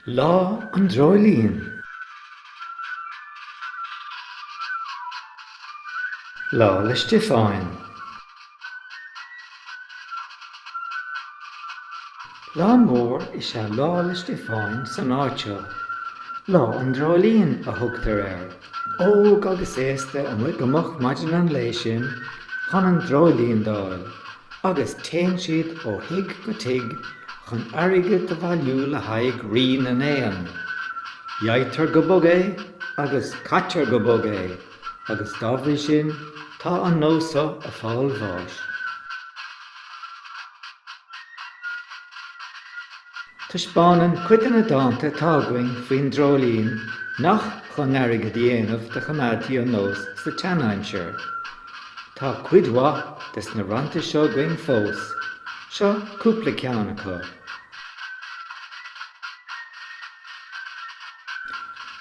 Lá an Dreoilín. Lá 'le Stiofáin. Lá mór is ea Lá 'le Stiofáin san áit seo. Lá an Dreoilín a thugtar air. óg agus aosta amuigh go moch maidin an lae sin chun an dreoilín d'fháil agus téann siad ó thigh go tigh chun airgead a bhailiú le haghaidh Rí na nÉan. Gheibhtear go bog é agus caitear go bog é agus dá bhrí sin tá an nós so ag fáil bháis. Taispeánann cuid de na dánta atá againn faoin dreoilín nach chun airgead a dhéanamh do choimeádtaí an nós sa tseanaimsir. Tá cuid mhaith des na rannta seo againn fós. Seo cúpla ceann acu.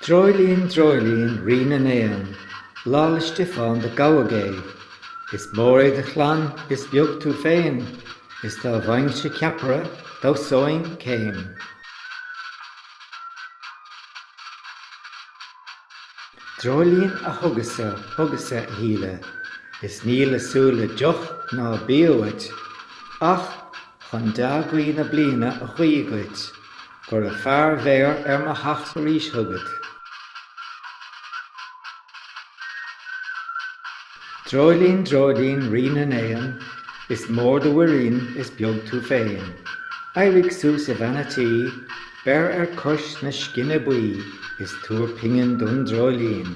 Dreoilín, Dreoilín Rí na nÉan, Lá 'le Stiofán do gabhadh é, Is mór é do chlann, is beag tú féin, Is dá bhfaighinnse ceapaire, dhamhsóinn céim. Dreoilín A thugas-sa, thugas-sa a shíle, Is ní le súil le deoch ná bia uait, Ach chun dea-ghuí na bliana a ghuí dhuit. Go raibh fear féd bheir ar mo theacht arís chugat. Dreoilín, dreoilín, Rí na nÉan, Is mór do mhuirín, is beag tú féin. Éirigh suas a bhean a' tí, Beir ar cois na scine buí, Is tabhair pingin don dreoilín.